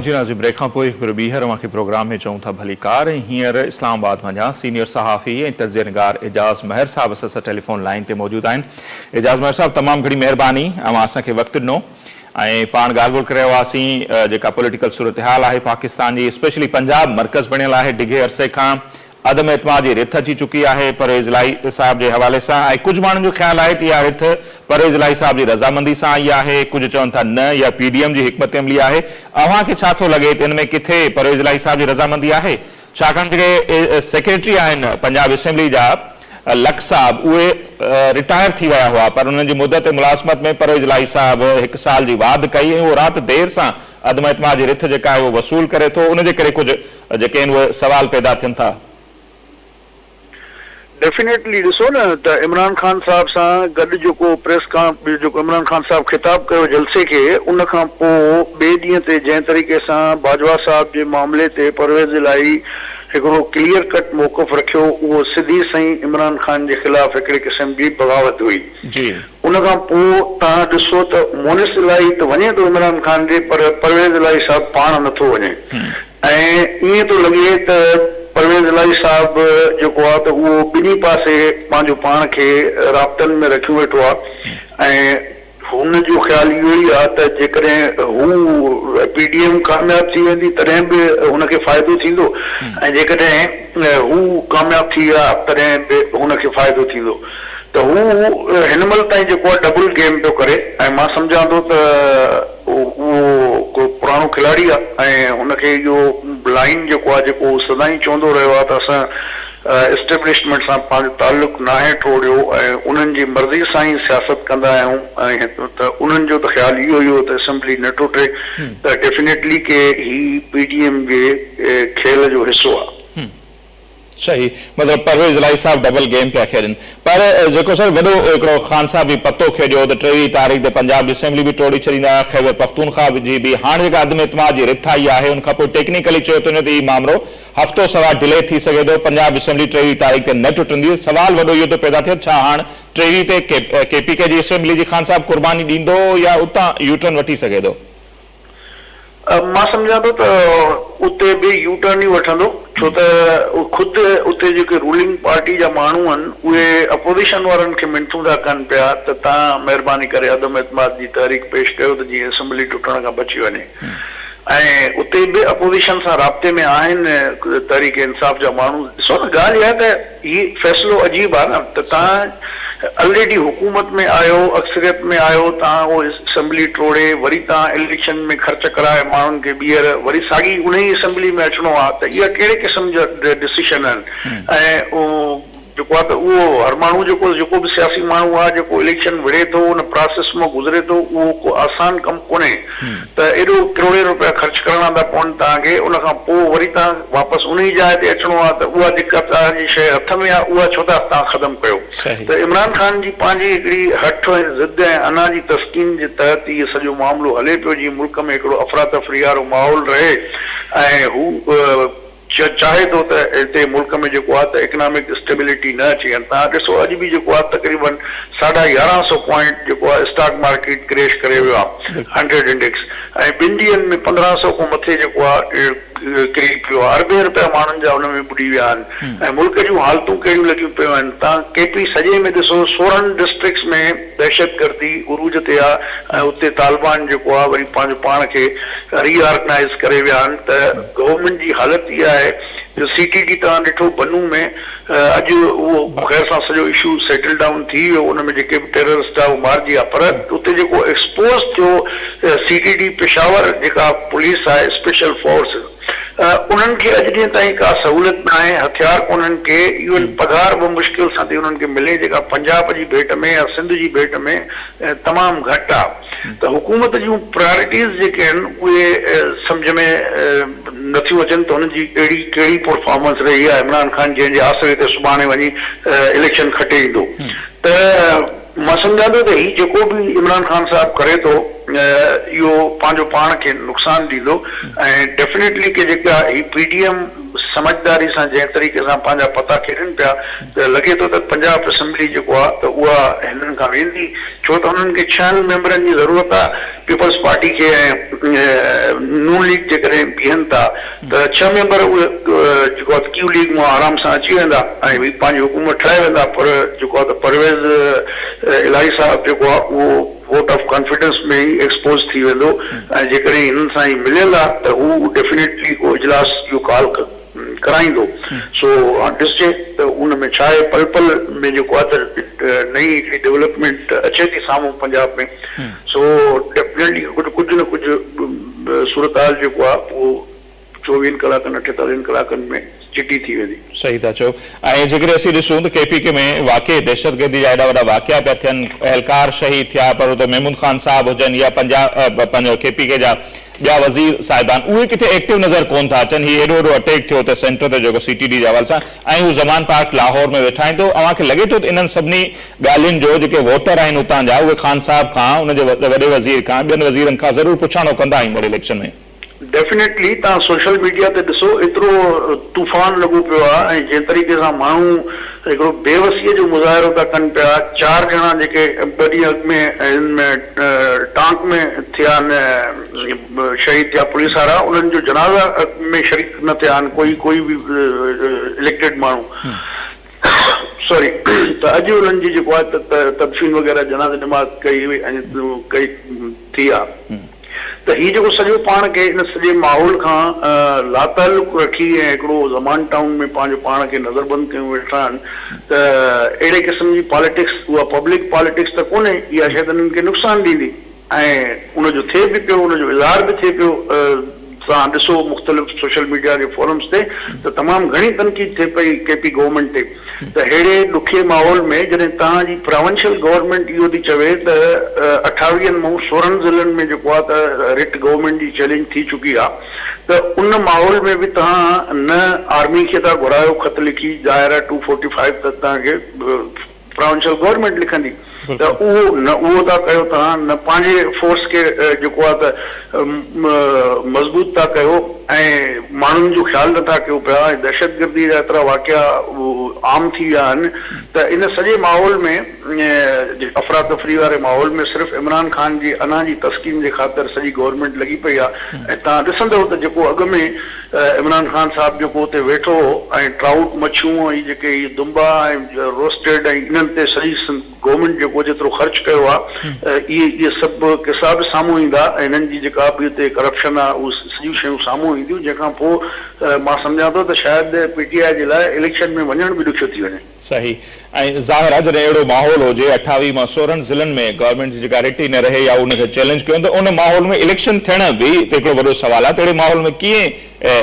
جي ناظم بريڪ کان پوء هڪ ڀيرو ٻيهر اوهان کي پروگرام ۾ چئون ٿا ڀلي ڪار ۽ هينئر اسلام آباد مان جا سينيئر صحافي ۽ تجزيه نگار اعجاز مهر صاحب اسان سان ٽيليفون لائين تي موجود آهن اعجاز مهر صاحب تمام گهڻي مهرباني اوهان اسان کي وقت ڏنو ۽ پاڻ ڳالهه ٻولهه ڪري رهيا هئاسين جيڪا پوليٽيڪل صورتحال آهي پاڪستان جي اسپيشلي پنجاب مرڪز بڻيل آهي ڊگهي عرصي کان عدم اعتماد جي رٿ اچي چڪي آهي پرويز الاهي صاحب جي حوالي سان ۽ ڪجهه ماڻهن جو خيال آهي ته اها رٿ پرويز الاهي صاحب جي رضامندي سان آئي آهي ڪجهه چون ٿا نه اها پي ڊي ايم جي حڪمت عملي آهي اوهان کي ڇا ٿو لڳي ته ان ۾ ڪٿي پرويز الاهي صاحب جي رضامندي آهي ڇاڪاڻ جيڪي سيڪريٽري آهن پنجاب اسيمبلي جا لڪ صاحب اهي رٽائر ٿي ويا هئا پر انهن جي مدت ملازمت ۾ پرويز الاهي صاحب هڪ سال جي واڌ ڪئي ۽ اهو رات دير سان عدم اعتماد جي رٿ جيڪا آهي اهو وصول ڪري ٿو ان جي ڪري ڪجهه جيڪي آهن اهي سوال پيدا ٿين ٿا. ڊيفينيٽلي ڏسو نه ته عمران خان صاحب سان گڏ جيڪو پريس ڪان جيڪو عمران خان صاحب خطاب ڪيو جلسي کي ان کان پو ٻي ڏينهن تي جنهن طريقي سان باجوا صاحب جي معاملي تي پرويز الاهي هڪڙو ڪليئر ڪٽ موقف رکيو اهو سڌي سئين عمران خان جي خلاف هڪڙي قسم جي بغاوت هئي ان کان پو توهان ڏسو ته مونس الاهي ته وڃي ٿو عمران خان ڏي پر پرويز الاهي صاحب پاڻ نٿو وڃي ۽ ائين ٿو لڳي ته پرويز الاهي صاحب جيڪو آهي ته اهو ٻنهي پاسي پنهنجو پاڻ کي رابطن ۾ رکيو ويٺو آهي ۽ هن جو خيال اهو ئي آهي ته جيڪڏهن هو پي ڊي ايم ڪامياب ٿي ويندي تڏهن به هن کي فائدو ٿيندو ۽ جيڪڏهن هو ڪامياب ٿي ويا تڏهن به هن کي فائدو ٿيندو. ته هو هن مهل تائين جيڪو آهي ڊبل گيم پيو ڪري ۽ مان سمجهان ٿو ته اهو ڪو پراڻو کلاڙي آهي ۽ هن کي اهو لائين جيڪو آهي جيڪو هو سدائين چوندو رهيو آهي ته اسان اسٽيبلشمينٽ سان پنهنجو تعلق ناهي ٽوڙيو ۽ انهن جي مرضي سان ئي سياست ڪندا آهيون ۽ ته انهن جو ته خيال اهو ئي هو ته اسيمبلي نه ٽٽي ته ڊيفينيٽلي ڪي هي پي ڊي ايم جي کيل جو حصو آهي. صحيح مطلب پرويز الاهي صاحب ڊبل گيم پيا کيڏن پر جيڪو سر وڏو هڪڙو خان صاحب به پتو کيڏيو ته ٽيويهه تاريخ تي پنجاب جي اسيمبلي به ٽوڙي ڇڏيندا خيبر پختونخوا جي به هاڻ جيڪا عدم اعتماد جي رٿ آئي آهي ان کانپوء ٽيڪنيڪلي چيو ٿو وڃي ته هي مامرو هفتو سوا ڊلي ٿي سگهي ٿو پنجاب اسيمبلي ٽيويهه تاريخ تي نه ٽٽندي سوال وڏو اهو ٿو پيدا ٿئي ڇا هاڻ ٽيويهه تي ڪي پي ڪي جي اسيمبلي جي خان صاحب قرباني ڏيندو يا اتان يوٽرن وٺي سگهي ٿو مان سمجهان ٿو ته اتي به يو ٽرن ئي وٺندو ڇو ته خود اتي جيڪي رولنگ پارٽي جا ماڻهو آهن اهي اپوزيشن وارن کي منٿون ٿا ڪن پيا ته توهان مهرباني ڪري عدم اعتماد جي تحريڪ پيش ڪيو ته جيئن اسيمبلي ٽٽڻ کان بچي وڃي ۽ اتي به اپوزيشن سان رابطي ۾ آهن تحريڪ انصاف جا ماڻهو ڏسو نه ڳالهه اها آهي ته هي فيصلو عجيب آ نه ته تان الريڊي حڪومت ۾ آهيو اڪثريت ۾ آهيو تان اهو اسمبلي ٽوڙي وري تان اليڪشن ۾ خرچ ڪرائي ماڻهن کي ٻيهر وري ساڳي انهي اسمبلي ۾ اچڻو آ ته اها ڪهڙي قسم جا ڊسيشن آهن ۽ جيڪو آ ته اهو هر ماڻهو جيڪو جيڪو به سياسي ماڻهو آ جيڪو اليڪشن وڙهي ٿو ان پراسيس مان گذري ٿو اهو ڪو آسان ڪم ڪونهي ته ايڏو ڪروڙين روپيا خرچ ڪرڻا ٿا پون توهان کي ان کان پوء وري توهان واپس ان ئي جاء تي اچڻو آ ته اها جيڪا توهان جي شيء هٿ ۾ آ اها ڇو ٿا توهان خدم ڪيو ته عمران خان جي پنهنجي هڪڙي هٺ ۽ ضد ۽ انا جي تسڪين جي تحت هي سڄو معاملو هلي پيو جيئن ملڪ ۾ هڪڙو افراتفري وارو ماحول رهي ۽ هو چين چاهي ٿو ته هتي ملڪ ۾ جيڪو آهي ته اڪنامڪ اسٽيبلٽي نه اچي هن تان ڏسو اڄ به جيڪو آهي تقريبن ساڍا يارهن سئو پوائنٽ جيڪو آهي اسٽاڪ مارڪيٽ ڪريش ڪري ويو آهي هنڊريڊ انڊيڪس ۽ ٻن ڏينهن ۾ پندرهن سئو کان مٿي جيڪو آهي ڪري پيو آهي اربين رپيا ماڻهن جا ان ۾ ٻڏي ويا آهن ۽ ملڪ جون حالتون ڪهڙيون لڳيون پيون آهن تان ڪي پي سڄي ۾ ڏسو سورهن ڊسٽرڪٽس ۾ دهشتگردي عروج تي آ ۽ اتي طالبان جيڪو آ وري پنهنجو پاڻ کي ري آرگنائيز ڪري ويا آهن ته گورنمينٽ جي حالت اها آهي جو سي ٽي ڊي توهان ڏٺو بنو ۾ اڄ اهو خير سان سڄو اشو سيٽل ڊائون ٿي ويو ان ۾ جيڪي به ٽيررسٽ آ اهو مارجي ويا پر اتي جيڪو ايڪسپوز ٿيو سي ٽي ڊي پشاور جيڪا پوليس آهي اسپيشل فورس انهن کي اڄ ڏينهن تائين ڪا سهولت ناهي، هٿيار ڪونهن ڪي، ايون پگهار به مشڪل سان ٿي انهن کي ملي جيڪا پنجاب جي ڀيٽ ۾ يا سنڌ جي ڀيٽ ۾ تمام گهٽ آ ته حڪومت جون پرائرٽيز جيڪي آهن اهي سمجهه ۾ نٿيون اچن ته هن جي اهڙي ڪهڙي پرفارمنس رهي آ عمران خان جنهن جي آسري تي سڀاڻي وڃي اليڪشن کٽي ايندو ته مان سمجهان ٿو ته هي جيڪو به عمران خان صاحب ڪري ٿو اهو پنهنجو پاڻ کي نقصان ڏيندو ۽ ڊيفنيٽلي ڪي جيڪا هي پي ڊي ايم سمجهداري سان جنهن طريقي سان پنهنجا پتا کيڏن پيا ته لڳي ٿو ته پنجاب اسيمبلي جيڪو آ ته اها هنن کان ويندي ڇو ته هنن کي ڇهن ميمبرن جي ضرورت آ پيپلز پارٽي کي ۽ نون ليگ جيڪڏهن بيهن ٿا ته ڇهه ميمبر اهي جيڪو آهي ته ڪيو ليگ مان آرام سان اچي ويندا ۽ پنهنجي حڪومت ٺاهي ويندا پر جيڪو آهي ته پرويز الاهي صاحب جيڪو آهي اهو ووٽ آف ڪانفيڊنس ۾ ئي ايڪسپوز ٿي ويندو ۽ جيڪڏهن هنن سان هي مليل آهي ته هو ڊيفينيٽلي اهو اجلاس جو ڪال ڪرائيندو سو هاڻ ڏسجي ته ان ۾ ڇا آهي پل پل ۾ جيڪو آهي ته نئين هڪڙي ڊيولپمينٽ اچي ٿي سامهون پنجاب ۾ سو ڊيفينيٽلي ڪجهه نه ڪجهه به صورتحال جيڪو آ اهو چوويهن ڪلاڪن اٺيتاليهن ڪلاڪن ۾ چٽي ٿي ويندي. صحيح ٿا چئو ۽ جيڪڏهن اسين ڏسون ته ڪي پي ڪي ۾ واقعي دهشتگردي جا ايڏا وڏا واقعا پيا ٿين اهلڪار شهيد ٿيا پر اتي محمود خان صاحب هجن يا پنجا پنهنجو ڪي پي ڪي جا ٻيا وزير صاحبان اهي ڪٿي ايڪٽو نظر ڪون ٿا اچن هي ايڏو وڏو اٽيڪ ٿيو اتي سينٽر تي جيڪو سي ٽي ڊي جي حوالي سان ۽ هو زمان پارڪ لاهور ۾ ويٺا آهن ته اوهان کي لڳي ٿو ته انهن سڀني ڳالهين جو جيڪي ووٽر آهن اتان جا اهي خان صاحب کان ان جي وڏي وزير کان ٻين وزيرن کان ضرور پڇاڻو ڪندا آهن ايندڙ اليڪشن ۾. ڊيفنيٽلي تهان سوشل ميڊيا تي ڏسو ايترو طوفان لڳو پيو آ ۽ جنهن طريقي سان ماڻهو هڪڙو بي وسيء جو مظاهرو ٿا ڪن پيا چار ڄڻا جيڪي ٻه ڏينهن اڳ ۾ هن ۾ ٽانڪ ۾ ٿيا آهن شهيد ٿيا پوليس وارا انهن جو جنازه ۾ شريڪ نه ٿيا آهن ڪوئي ڪوئي به اليڪٽيڊ ماڻهو سوري ته اڄ انهن جي جيڪو آهي ته تدفين وغيره جنازي نماز ڪئي وئي ۽ ڪئي ٿي آ ته هي جيڪو سڄو پاڻ کي ان سڄي ماحول کان لاتعلق رکي ۽ هڪڙو زمان ٽائون ۾ پنهنجو پاڻ کي نظر بند ڪيون ويٺا آهن ته اهڙي قسم جي پاليٽڪس اها پبلڪ پاليٽڪس ته ڪونهي اها شايد انهن کي نقصان ڏيندي. ۽ ان جو ٿئي به پيو ان جو اظهار به ٿئي پيو سان ڏسو مختلف سوشل ميڊيا جي فورمز تي ته تمام گهڻي تنقيد ٿئي پئي ڪي پي گورنمينٽ تي ته ههڙي ڏکي ماحول ۾ جڏهن توهان جي پراونشل گورنمينٽ اهو ٿي چوي ته اٺاويهن مئون سورهن ضلعن ۾ جيڪو آهي ته رٽ گورنمينٽ جي چئلينج ٿي چڪي آهي ته ان ماحول ۾ به توهان نه آرمي کي ٿا گهرايو خط لکي ظاهر آهي ٽو فورٽي فائيو ته توهان کي پراونشل گورنمينٽ لکندي ته اهو نه اهو ٿا ڪيو توهان نه پنهنجي فورس کي جيڪو آهي ته مضبوط ٿا ڪيو ۽ ماڻهن جو خيال نٿا ڪيو پيا ۽ دهشتگردي جا ايترا واقعا عام ٿي ويا آهن ته ان سڄي ماحول ۾ افراتفري واري ماحول ۾ صرف عمران خان جي انا جي تسڪين جي خاطر سڄي گورنمينٽ لڳي پئي آهي ۽ توهان ڏسندؤ ته جيڪو اڳ ۾ عمران خان صاحب جيڪو اتي ويٺو هو ۽ ٽرائوٽ مڇيون ۽ هي جيڪي هي دنبا ۽ روسٽيڊ ۽ انهن تي سڄي سنڌ گورنمينٽ جيڪو جيترو خرچ ڪيو آ اهي اهي سڀ قصا به سامهون ايندا ۽ هنن جي جيڪا به اتي ڪرپشن آ اهي سڄيون شيون سامهون اينديون جنهن کان پوء مان سمجهان ٿو ته شايد پي ٽي آء جي لاء اليڪشن ۾ وڃڻ به ڏکيو ٿي وڃي. صحيح ۽ ظاهر آ جڏهن اهڙو ماحول هجي اٺاويهه مان سورهن ضلعن ۾ گورنمينٽ جي جيڪا رٽي نه رهي يا ان کي چئلينج ڪيون ته ان ماحول ۾ اليڪشن ٿيڻ به هتي هڪڙو وڏو سوال آ ته اهڙي ماحول ۾ ڪيئن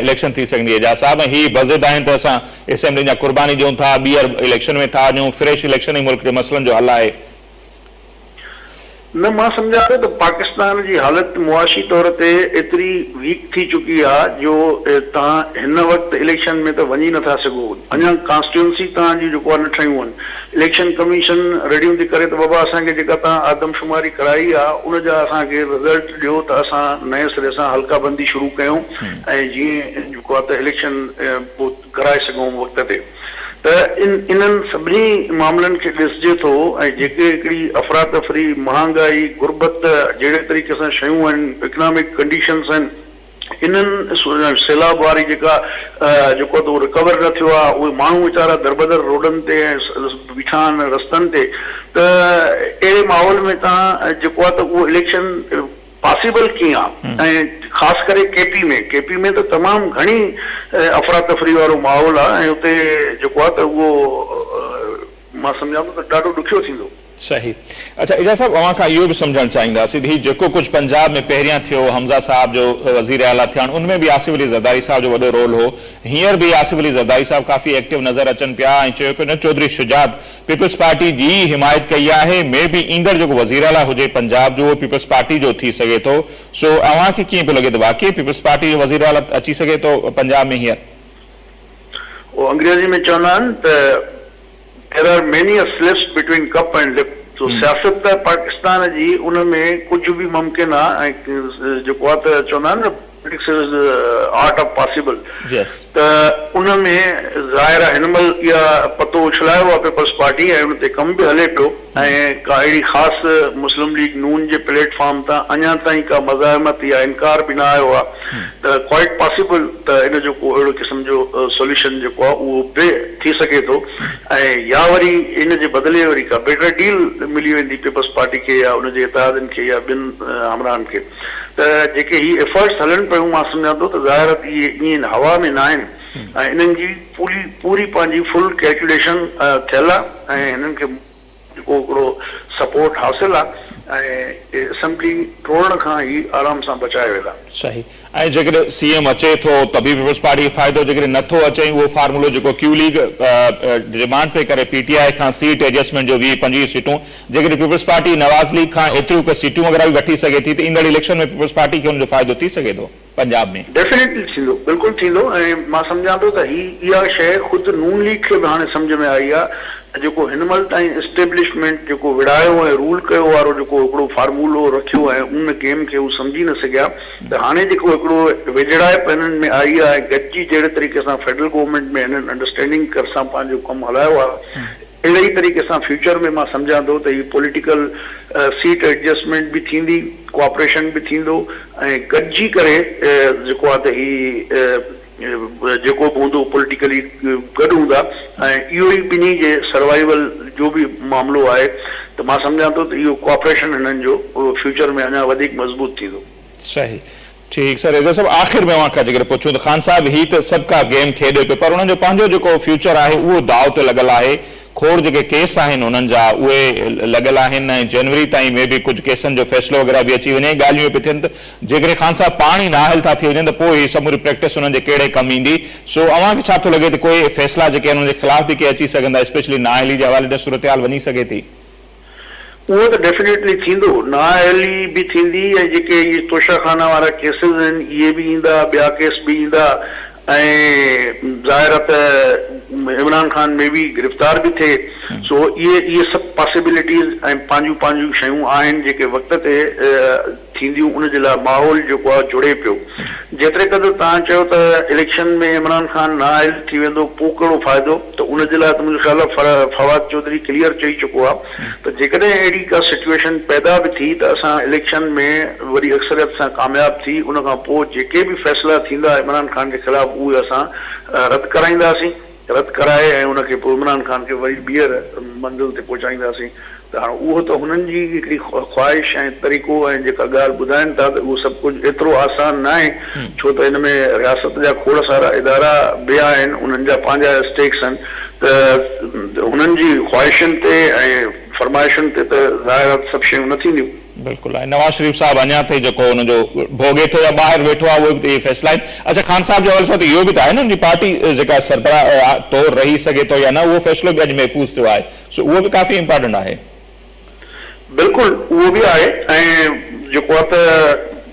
اليڪشن ٿي سگهندي اعجاز صاحب ۽ هي بضد آهن ته اسان اسيمبلين جا قرباني ڏيون ٿا ٻيهر اليڪشن ۾ ٿا وڃون فريش اليڪشن ئي ملڪ جي مسئلن جو حل آهي. نه مان سمجهان ٿو ته پاڪستان جي حالت معاشي طور تي ايتري ويڪ ٿي چڪي آ جو توهان هن وقت اليڪشن ۾ ته وڃي نٿا سگهو اڃا ڪانسٽيوئنسي توهان جون جيڪو آ نه ٺهيون هن اليڪشن ڪميشن رڙيون ٿي ڪري ته بابا اسان کي جيڪا توهان آدمشماري ڪرائي آ ان جا اسان کي رزلٽ ڏيو ته اسان نئين سري سان حلقه بندي شروع ڪيون ۽ جيئن جيڪو آ ته اليڪشن ڪرائي سگهون وقت تي. ته ان انهن سڀني معاملن کي ڏسجي ٿو ۽ جيڪي هڪڙي افراتفري، مهانگائي، غربت جهڙي طريقي سان شيون آهن، اڪنامڪ ڪنڊيشنز آهن، انهن سيلاب واري جيڪا جيڪو اٿو رڪور نه ٿيو آهي، اهي ماڻهو ويچارا دربدر روڊن تي ۽ بيٺا آهن رستن تي ته اهڙي ماحول ۾ تان جيڪو آهي ته اهو اليڪشن پاسيبل ڪيئن آ ۽ خاص ڪري ڪي پي ۾ ڪي پي ۾ ته تمام گهڻي افراتفري وارو ماحول آ ۽ اتي جيڪو آ ته اهو مان سمجهان ٿو ته ڏاڍو ڏکيو ٿيندو. صحيح اڇا اعجاز صاحب اوهان کان اهو به سمجهڻ چاهينداسين ته هي جيڪو ڪجهه پنجاب ۾ پهريان ٿيو حمزه صاحب جو وزير اعليٰ ٿيڻ ان ۾ به آصف علي زرداري صاحب جو وڏو رول هو هينئر به آصف علي زرداري صاحب ڪافي ايڪٽو نظر اچن پيا ۽ چيو پيو وڃي چوڌري شجاعت پيپلز پارٽي جي ئي حمايت ڪئي آهي، مي بي ايندڙ جيڪو وزيراعليٰ هجي پنجاب جو اهو پيپلز پارٽي جو ٿي سگهي ٿو، سو اوهان کي ڪيئن پيو لڳي ته واقعي پيپلز پارٽي جو وزيراعليٰ اچي سگهي ٿو پنجاب ۾ هينئر؟ اهو انگريزي ۾ چوندا آهن ته There are many a slips between cup and lip سو سياست ته پاڪستان جي ان ۾ ڪجهه به ممڪن آهي ۽ جيڪو آهي ته چوندا آهن نه This is the Art of Possible ته ان ۾ ظاهر آهي هن مهل اها پتو اڇلايو آهي پيپلز پارٽي ۽ ان تي ڪم به هلي پيو ۽ ڪا اهڙي خاص مسلم ليگ نون جي پليٽ فارم تان اڃا تائين ڪا مزاحمت يا انڪار به نه آيو آهي ته Quite Possible ته ان جو ڪو اهڙو قسم جو Solution جيڪو آهي اهو به ٿي سگهي ٿو ۽ يا وري ان جي بدلي وري ڪا Better Deal ملي ويندي پيپلز پارٽي کي يا ان جي اتحادين کي يا ٻين همراهن کي. ته جيڪي هي ايفرٽس هلن پيون مان سمجهان ٿو ته ظاهر اهي ائين هوا ۾ ناهن ۽ انهن جي پوري پوري پنهنجي فل ڪيلڪيوليشن ٿيل آهي ۽ هنن کي جيڪو هڪڙو سپورٽ حاصل آهي ۽ اسيمبلي ٽوڙڻ کان هي آرام سان بچايا ويندا. صحيح ۽ جيڪڏهن سي ايم اچي ٿو ته به پيپلز پارٽي کي فائدو جيڪڏهن نه ٿو اچي ۽ اهو فارمولو جيڪو ڪيو ليگ ڊمانڊ پئي ڪري پي ٽي آء کان سيٽ ايڊجسٽمينٽ جو ويهه پنجويهه سيٽون جيڪڏهن پيپلز پارٽي نواز ليگ کان ايتريون ڪي سيٽون وغيره به وٺي سگهي ٿي ته ايندڙ اليڪشن ۾ پيپلز پارٽي کي ان جو فائدو ٿي سگهي ٿو پنجاب ۾. ڊيفينيٽلي ٿيندو بلڪل ٿيندو ۽ مان سمجهان ٿو ته هي اها شيء خود نون ليگ کي به هاڻي سمجهه ۾ آئي آهي ته جيڪو هن مهل تائين اسٽيبلشمينٽ جيڪو وڙهايو ۽ رول ڪيو وارو جيڪو هڪڙو فارمولو رکيو ۽ ان گيم کي هو سمجهي نه سگهيا ته هاڻي جيڪو هڪڙو ويجهڙائپ هنن ۾ آئي آهي ۽ گڏجي جهڙي طريقي سان فيڊرل گورنمينٽ ۾ هنن انڊرسٽينڊنگ سان پنهنجو ڪم هلايو آهي اهڙي ئي طريقي سان فيوچر ۾ مان سمجهان ٿو ته هي پوليٽيڪل سيٽ ايڊجسٽمينٽ به ٿيندي، ڪوآپريشن به ٿيندو ۽ گڏجي ڪري جيڪو آهي ته هي جيڪو به هوندو پوليٽيڪلي گڏ هوندا ۽ اهو ئي ٻنهي جي سروائيول جو به معاملو آهي ته مان سمجهان ٿو ته اهو ڪوآپريشن هنن جو فيوچر ۾ اڃا وڌيڪ مضبوط ٿيندو. صحيح. ٺيڪ سر حيدر صاحب آخر ۾ اوهان کان جيڪڏهن پڇون ته خان صاحب هي ته سڀ ڪا گيم کيڏي پيو پر انهن جو پنهنجو جيڪو فيوچر آهي اهو داء تي لڳل آهي کوڙ جيڪي ڪيس آهن انهن جا اهي لڳل آهن ۽ جنوري تائين مي بي ڪجهه ڪيسن جو فيصلو وغيره به اچي وڃي ۽ ڳالهيون اهي پي ٿين ته جيڪڏهن خان صاحب پاڻ ئي نااهل ٿا ٿي وڃن ته پوء هي سموري پريڪٽس انهن جي ڪهڙي ڪم ايندي سو اوهان کي ڇا ٿو لڳي ته ڪوئي فيصلا جيڪي آهن انهن جي خلاف به ڪي اچي سگهندا اسپيشلي نااهلي جي حوالي ڏانهن صورتحال وڃي سگهي ٿي. اهو ته ڊيفينيٽلي ٿيندو، نااهلي به ٿيندي ۽ جيڪي اهي توشاخانه وارا ڪيسز آهن اهي به ايندا، ٻيا ڪيس به ايندا ۽ ظاهر آهي ته عمران خان مي بي گرفتار به ٿئي سو اهي اهي سڀ پاسيبلٽيز ۽ پنهنجون پنهنجون شيون آهن جيڪي وقت تي ٿينديون ان جي لاء ماحول جيڪو آ جڙي پيو جيتري قدر توهان چيو ته اليڪشن ۾ عمران خان نااهل ٿي ويندو پو ڪهڙو فائدو ته ان جي لاء ته منهنجو خيال آ فواد چوڌري ڪليئر چئي چڪو آ ته جيڪڏهن اهڙي ڪا سچوئيشن پيدا به ٿي ته اسان اليڪشن ۾ وڏي اڪثريت سان ڪامياب ٿي ان کان پو جيڪي به فيصلا ٿيندا عمران خان جي خلاف اهي اسان رد ڪرائينداسين. رد ڪرائي ۽ ان کي پوء عمران خان کي وري ٻيهر منزل تي پهچائينداسين ته هاڻ اهو ته هنن جي هڪڙي خواهش ۽ طريقو ۽ جيڪا ڳالهه ٻڌائين ٿا ته اهو سڀ ڪجهه ايترو آسان ناهي ڇو ته ان ۾ رياست جا کوڙ سارا ادارا به آهن انهن جا پنهنجا اسٽيڪس آهن ته هنن جي خواهشن تي ۽ فرمائشن تي ته ظاهر آهي ته سڀ شيون نه ٿينديون. بلڪل ۽ نواز شريف صاحب اڃان تائين جيڪو ان جو ڀوڳي ٿو يا ٻاهر ويٺو آهي اهي به ته اهي فيصلا آهن. اڇا خان صاحب جي حوالي سان ته اهو به ته آهي نه ان جي پارٽي جيڪا سربراهه طور رهي سگهي ٿو يا نه اهو فيصلو به اڄ محفوظ ٿيو آهي سو اهو به ڪافي امپارٽنٽ آهي. بلڪل اهو به آهي ۽ جيڪو آهي ته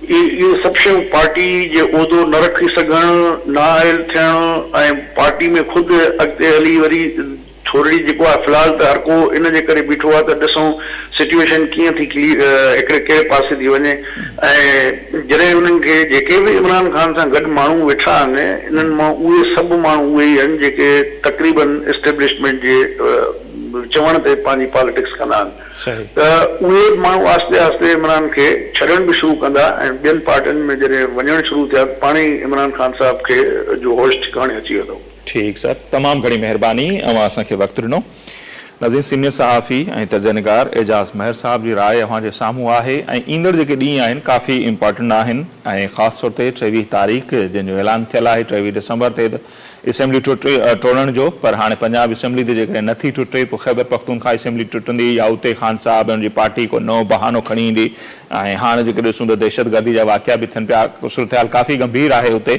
اهي سڀ شيون پارٽي جي عهدو نه رکي سگهڻ، نااهل ٿيڻ ۽ پارٽي ۾ خود اڳتي هلي وري ٿورڙي جيڪو آهي فلحال ته هرڪو ان جي ڪري بيٺو آهي ته ڏسون سچوئيشن ڪيئن ٿي ڪلي هڪڙي ڪهڙي پاسي ٿي وڃي ۽ جڏهن انهن کي جيڪي به عمران خان سان گڏ ماڻهو ويٺا آهن انهن مان اهي سڀ ماڻهو اهي ئي آهن جيڪي تقريبن اسٽيبلشمينٽ جي چوڻ تي پنهنجي پاليٽڪس ڪندا آهن ته اهي ماڻهو آهستي آهستي عمران کي ڇڏڻ به شروع ڪندا ۽ ٻين پارٽين ۾ جڏهن وڃڻ شروع ٿيا ته پاڻهي عمران خان صاحب کي جو هوش ٺڪاڻي اچي ويندو. ٺيڪ سر تمام گهڻي مهرباني اوهان اسان کي وقت ڏنو ناظرين سينئر صحافي ۽ تجزئه نگار اعجاز مهر صاحب جي راء اوهان جي سامهون آهي ۽ ايندڙ جيڪي ڏينهن آهن ڪافي امپارٽنٽ آهن ۽ خاص طور تي ٽيويهه تاريخ جنهن جو اعلان ٿيل آهي ٽيويهه ڊسمبر تي ته اسيمبلي ٽٽي ٽوڙڻ جو پر هاڻي پنجاب اسيمبلي ته جيڪڏهن نه ٿي ٽٽي پوء خيبر پختونخواه اسيمبلي ٽٽندي يا اتي خان صاحب ۽ ان جي پارٽي ڪو نئون بهانو کڻي ايندي ۽ هاڻ جيڪي ڏسون ته دهشتگردي جا واقعا به ٿين پيا، صورتحال ڪافي گنڀير آهي اتي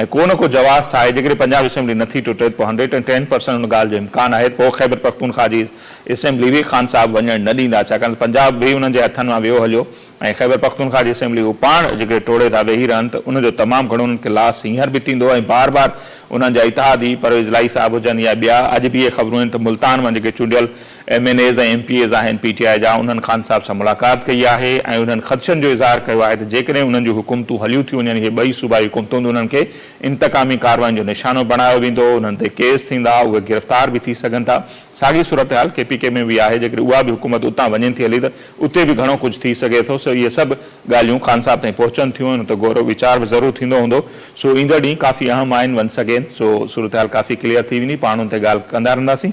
۽ ڪو نه ڪو جواز ٺاهي جيڪڏهن پنجاب اسيمبلي نٿي ٽٽي ته پوء هنڊريڊ اينڊ ٽين پرسنٽ ان ڳالهه جو امڪان آهي ته پوء خيبر پختونخواهه جي اسيمبلي به خان صاحب وڃڻ نه ڏيندا ڇاڪاڻ ته پنجاب به انهن جي هٿن مان ويو هليو ۽ خيبر پختونخواهه جي اسيمبلي هو پاڻ جيڪڏهن ٽوڙي ٿا ويهي رهن ته ان جو تمام گهڻو انهن کي لاس هينئر به ٿيندو ۽ بار بار انهن جا اتحادي پرويز الاهي صاحب هجن يا ٻيا اڄ به اهي خبرون آهن ته ملتان مان جيڪي چونڊيل M N As ۽ M P As آهن پي ٽي آء جا انهن خان صاحب سان ملاقات ڪئي آهي ۽ انهن خدشن جو اظهار ڪيو آهي ته جيڪڏهن انهن جون حڪومتون هليون ٿيون وڃن اهي ٻئي صوبائي حڪومتون به انهن کي انتقامي ڪارواين جو نشانو بڻايو ويندو انهن تي ڪيس ٿيندا اهي گرفتار به ٿي سگهن ٿا ساڳي صورتحال ڪي پي ڪي ۾ به آهي جيڪڏهن اها به حڪومت اتان وڃين ٿي هلي ته اتي به گهڻو ڪجهه ٿي سگهي ٿو سو اهي سڀ ڳالهيون خان صاحب تائين پهچن ٿيون ان تي غور ويچار به ضرور ٿيندو هوندو سو ايندڙ ڏينهن ڪافي اهم آهن ونس اگين سو صورتحال ڪافي ڪليئر ٿي ويندي پاڻ ان تي ڳالهه ڪندا رهنداسين.